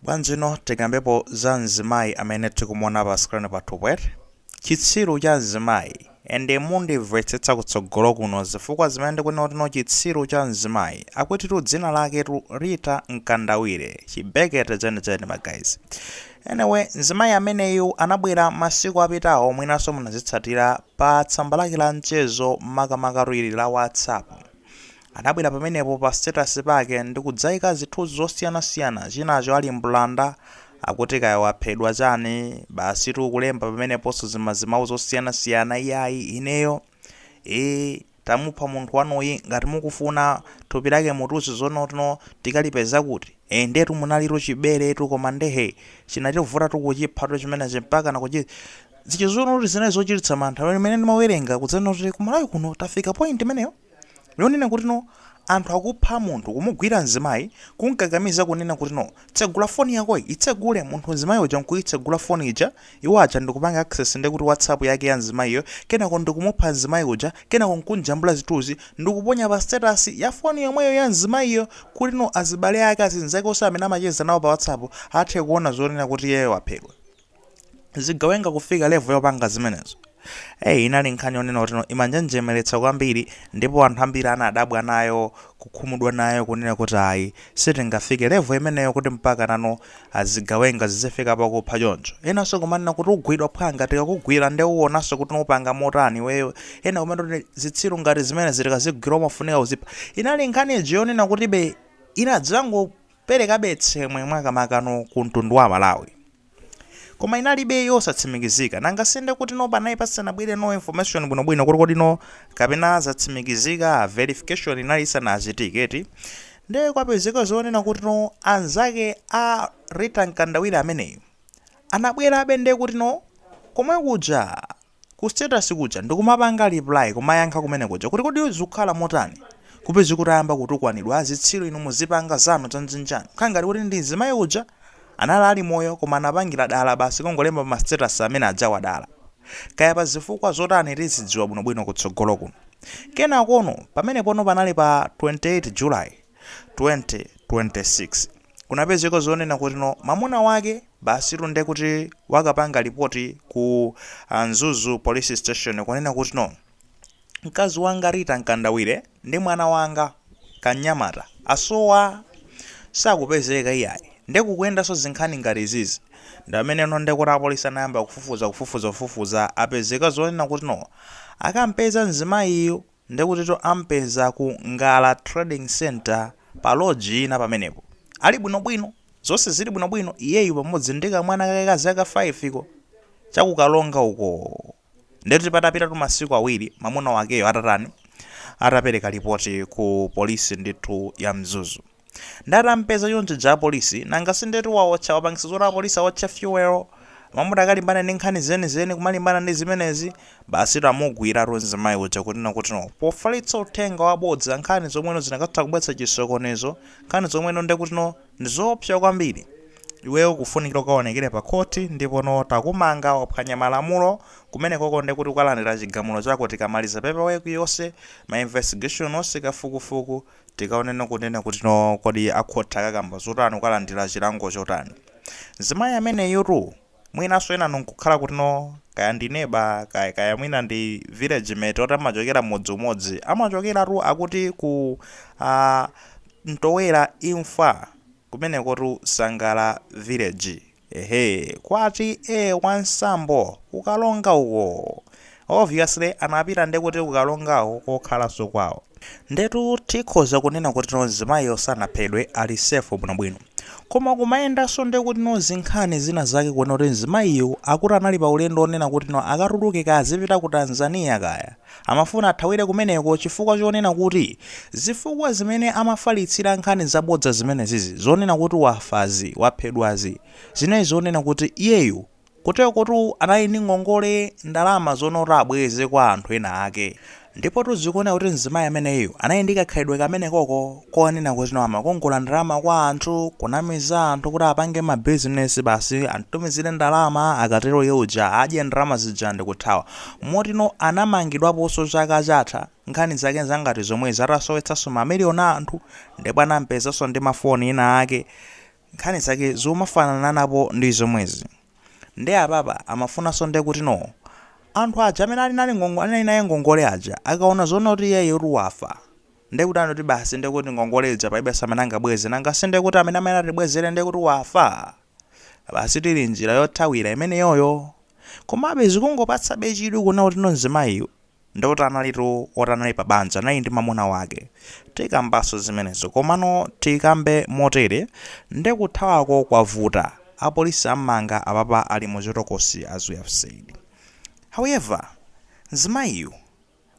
Bwanjino tikambepo za mzimayi amene tikumuona pa screen pathu pweti. Chitsiru cha mzimayi. Ende mundimvetsetsa kutsogolo kuno zifukwa zimene ndikunena kuti no chitsiru cha mzimayi. Akutitu dzina laketu Rita Mkandawire. Chibekete chenicheni ma guys. Anyway, mzimayi ameneyu anabwera masiku apitawo mwinanso munazitsatira pa tsamba lake la mchezo makamakatu ili la WhatsApp. Anabwera pamenepo pa status pake ndikudzaika zithunzi zosiyana siyana chinacho ali mbulanda akuti kaya waphedwa chani basitu kulemba pameneponso zimazimau zosiyana siyana iyayi ineyo ee tamupha munthu wanuyi ngati mukufuna thupi lake mutiuze zoonono tikalipeza kuti ee ndetu munalitu chiberetu koma nde hee chinativutatu kuchiphatu chimenechi mpakana kuchizizizuno kuti zinali zochititsa mantha pamene ndimawerenga kudzanena kuti kumalawi kuno tafika point imeneyo? yonena kuti no anthu akupha munthu kumugwira mzimayi kumkakamiza kunena kuti no tsegula foni yakoyi itsegule munthu mzimayi uja nkuyitsegula foni ija iwo aja ndikupanga access ndekuti whatsapp yake ya mzimayiyo kenako ndikumupha mzimayi uja kenako nkumjambula zithunzi ndikuponya pa status ya foni yomweyo ya mzimayiyo kuti no azibale ake azinzake onse amene amacheza nawo pa whatsapp athe kuona zonena kuti iyeyo waphedwa zigawenga kufika level yopanga zimenezo eyi inali nkhani yonena kuti no imanjenjemeretsa kwambiri ndipo anthu ambiri anadabwa nayo kukhumudwa nayo kunena kuti ayi sitingafike level imeneyo kuti mpakana no zigawenga zizifika pakupha choncho enanso kumanena kuti ugwidwa phwanga tikakugwira nde uwonanso kuti upanga motani iweyo ena kumanena kuti zitsiru ngati zimenezi tikazigwira umafunika uzipha inali nkhani iji yonena kuti be inadzangu perekabe tsemwe mwakamakano ku mtundu wa amalawi koma inalibe yosatsimikizika nanga sinde kuti no panali pasanabwere no information bwinobwino kuti kodi no kapena zatsimikizika verification inali isanachitike eti nde kwapezeka zonena kuti no anzake a Rita Mkandawire ameneyu anabwerabe nde kuti no komwe kuja ku status kuja ndikumapanga reply kumayankha kumene kuja kuti kodi zikukhala motani kupeza kuti ayamba kutukwanidwa azitsiru inu muzipanga zanu dzandzinjanu kukhala ngati kuti ndi mzimayi uja anali ali moyo koma anapangira dala basi kungolemba pa ma status amene ajawa dala kaya pa zifukwa zotani tizidziwa bwino bwino kutsogolo kuno kenakono pamenepono panali pa 28 july 2026. kunapezeka zonena kuti no mamuna wake basitu ndekuti wakapanga lipoti ku ah, Mzuzu police station kunena kuti no mkazi wanga Rita Mkandawire ndi mwana wanga kanyamata asowa sakupezeka iyayi ndekukuyendanso zinkhani ngati izizi nde amene no ndekuti apolisi anayamba kufufuza kufufuza kufufuza apezeka zonena kuti no akampeza mzimayiyu Ndekutito ampeza ku Ngala Trading Centre pa lodge ina pamenepo. Ali bwinobwino. Zonse zili bwinobwino, iyeyu pamodzi ndi kamwana kake ka zaka 5 ko. Cha ku Karonga ukoo. Ndekuti patapita masiku awiri mamuna wakeyo atatani, atapereka lipoti ku polisi ndithu ya Mzuzu. Nde atampeza choncho muja apolisi, nanga sindetu waotcha, wapangisa zoti apolisi aotcha fuel? M'malo mokalimbana ndi nkhani zenizeni kumalimbana ndi zimenezi? Basitu amugwiratu mzimayi uja kunena kuti no pofalitsa uthenga wabodza nkhani zomwe no zikanatha kubweretsa chisokonezo, nkhani zomwe no ndekuti no ndizoopsa kwambiri. Iweyo ukufunikira ukaonekere pa khothi ndipo no takumanga, waphwanya malamulo, kumenekoko ndekuti ukalandira chigamulo chako tikamaliza paper work yonse, ma investigation onse, kafukufuku, Tikaoneno kunena kuti no kodi a court akakamba zotani ukalandila chilango chotani mzimayi ameneyutu mwinanso enanu nkukhala kuti no kaya ndi neba kaya kaya mwina ndi village mate oti amachokera mudzi umodzi amachokeratu akuti kwa Mtowera Imfa kumenekotu Sangala village Ehe, kwa T/A Wasambo, ku Karonga uko. Obviously anapita nde kuti ku Karonga ko kokhalanso kwawo. Ndetu tikhoza kunena kuti no mzimayiyo sanaphedwe, ali safe bwinobwino. Koma kumayendanso nde kuti no zinkhani zina zake kunena kuti mzimayiyo akuti anali pa ulendo onena kuti no akatuluke kazipita ku Tanzania kaya, Amafuna athawire kumeneko chifukwa chonena kuti zifukwa zimene amafalitsira nkhani zabodza zimenezizi, zonena kuti wafazi, waphedwazi, zinali zonena kuti iyeyu kuterokotu anali ndi ngongole ndalama zonoti abweze kwa anthu ena ake. Ndipotu zikuoneka kuti mzimayi ameneyo anali ndi kakhalidwe kamenekoko. konena kuti no amakongola ndalama kwa anthu kunamiza anthu kuti apange ma business basi antumizire ndalama akatero ye uja adye ndalama zija ndikuthawa moti no anamangidwaposo chaka chatha nkhani zake zangati zomwezi atasowetsaso ma million a anthu ndipo anampezaso ndi ma phone ena ake nkhani zake zomafanananapo ndi zomwezi nde apapa amafunaso nde kuti no anthu aja amene ali naye ngongole anali naye ngongole aja akaona zonena kuti iyeyotu wafa Ndiye kuti anoti basi ndiye kuti ngongole ija palibenso amene angabweze, nanga si ndiye kuti amene amayenera atibwezere ndiye kuti wafa? Basitu ili njira yothawira imeneyoyo. Komabe zikungopatsabe chidwi kuona kutino mzimayiyu ndiye kuti analitu woti anali pa banja, anali ndi mwamuna wake. Tikambanso zimenezo, komano tikambe motere, Ndiye kuthawako kwavuta. Apolisi am'manga apapa ali mu chitokosi, as we have said. However, mzimayiyu.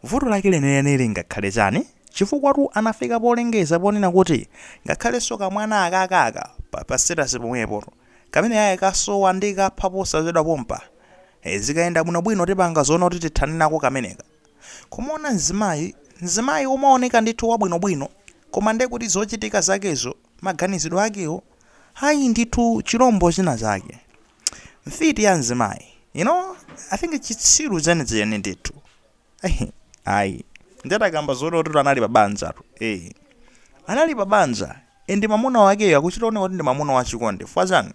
Vuto lake lenileni lingakhale chani? Chifukwatu anafika polengeza ponena kuti ngakhalenso kamwana akaka aka pa pa status pomwepo kameneka kasowa ndikapha posachedwa pompa. Ee zikayenda bwino bwino tipanga zoona kuti tithane nako kameneka. Kumuona mzimayi, mzimayi omaoneka ndithu wabwino bwino koma ndekuti zochitika zakezo. maganizidwe akewo ayi ndithu chilombo china chake mfiti ya mzimayi you know i think chitsiru chenicheni ndithu ayi nditakamba zoonatu anali pa banjatu eh anali pa banja and mamuna wakeyo akuchita oneka kuti ndi mamuna wachikondi chifukwa chani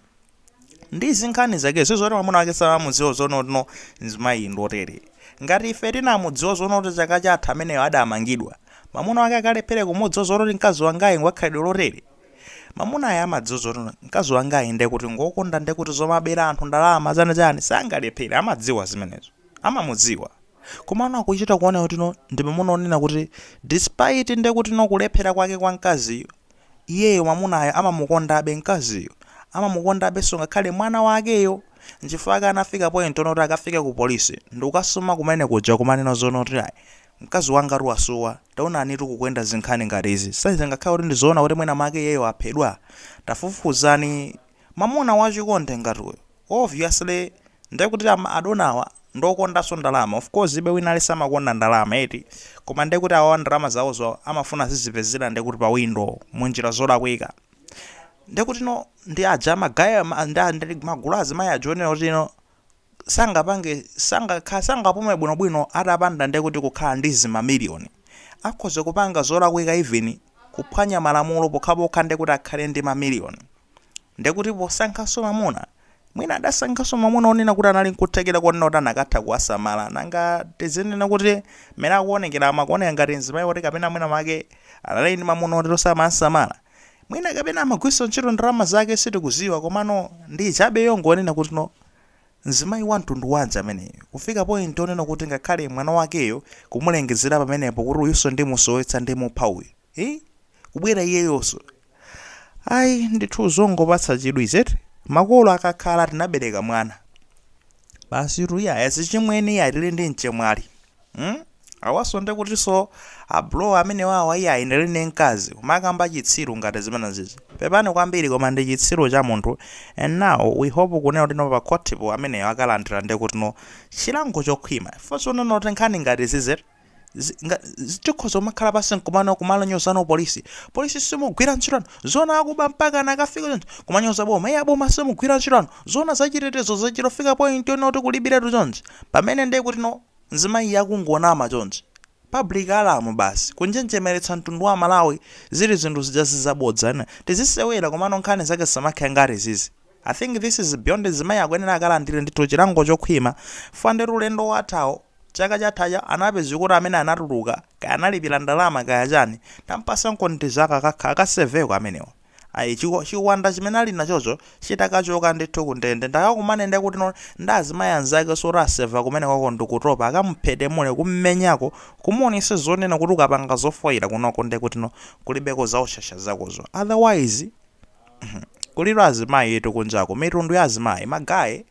ndi zinkhani zake sizoti mwamuna wake samamudziwa zoona kuti no mzimayi ndi otere ngati ife tinamudziwa zoona kuti chaka chatha ameneyo adamangidwa mwamuna wake akalephere kumudziwa zoona kuti mkazi wangayu ngwakhalidwe lotere mamunayo amadziwa zoti mkazi wangayu ndekuti ngokonda ndekuti zomabera anthu ndalama chani chani sangalephere amadziwa zimenezo amamudziwa komano akuchita kuona kuti no ndi mamuna onena kuti despite ndekuti no kulephera kwake kwa mkaziyu Iyeyo mwamunayo amamukondabe mkaziyu, amamukondabenso ngakhale mwana wakeyo. Nchifukwa chake anafika point yonena kuti akafike ku police ndikukasuma kumene kuja kumanena zoona kuti ayi mkazi wangatu wasowa, taonanitu kukuyenda zinkhani ngati izi. Sizingakhale kuti ndi zoona kuti mwina mwake iyeyo waphedwa? Tafufuzani Mamuna wachikondi ngati uyu obviously nde kuti amadona awa ndiokondaso ndalama of course iii wina aliyense amakonda ndalama eti koma nde kuti awawa ndalama zawozo amafuna azizipezela nde kuti pa window munjila zolakwika nde kuti no ndi aja magaye ndi magulu a azimayi aja onena kuti no sangapange sangakha sangapume bwinobwino atapanda nde kuti kukhala ndi zi ma million. Akhoza kupanga zolakwika even kuphwanya malamulo pokhapokha nde kuti akhale ndi ma million. Nde kuti posankhanso mamuna mwina adasankhanso mamuna onena kuti anali nkuthekera konena kuti anakatha kuwasamala. Nanga tizinena kuti mmene akuonekera akuoneka ngati mzimai oti kapena mwina mwake anali ndi mamuna oti osamamsamala? Mwina kapena amagwiritsa ntchito ndalama zake sitikuziwa komano ndi ijabe yongonena kuti no. Mzimayi wa mtundu wanji ameneyu, kufika point yonena kuti ngakhale mwana wakeyo kumulengezera pamenepo kuti uyunso ndimusowetsa ndimupha uyu hii kubwera iyeyonso ayi ndithu zongopatsa chidwi izi eti. Makolo akakhala tinabereka mwana basitu iyayi azichimwene iyayi tili ndi mchemwali. mm? awaso ndekutiso a bro amenewawa iyayi ndili ndi mkazi kumakamba chitsiru ngati chimenechichi pepani kwambiri koma ndi chitsiru cha munthu and now we hope kunena kuti no pa court po ameneyo akalandira ndekuti no chilango chokhwima chifukwa chonena kuti nkhani ngati zizi zi- nga- zi- tikhoza kumakhala pansi nkumango kumanyoza apolisi polisi simugwira ntchito Zona akuba mpaka anakafika choncho kumanyoza boma iye aboma simugwira ntchito inu zoona zachitetezo zachitofika point yonena kuti kulibiretu chonchi pamene ndiye kuti no nzimayi yakungonama chonchi public alarm basi kunjenjemeretsa mtundu wa malawi zili zinthu zijazi zabodza inde tizisewera komano nkhani zake zisamakhale ngati izizi I think this is beyond nzimayi akuyenera akalandire ndithu chilango chokhwima fande tu ulendo wathawo Chaka chathacha anapezeka kuti amene anatuluka kaya analipira ndalama kaya chani tampatsankoni tizaka kakha akaseveko amenewo ayi chiko chiwanda chimene alinachocho chitakachoka ndithu kundende nde akakumane ndekutino ndi azimayi anzakeso oti aseva kumeneko ko ndikutopa akamuphitimule kummenyako kumuonesa zonena kuti ukapanga zofoira kunoko ndekutino kulibeko za ushasha zakozo otherwise kulitu azimayitu kunjaku mitundu ya azimayi ma guy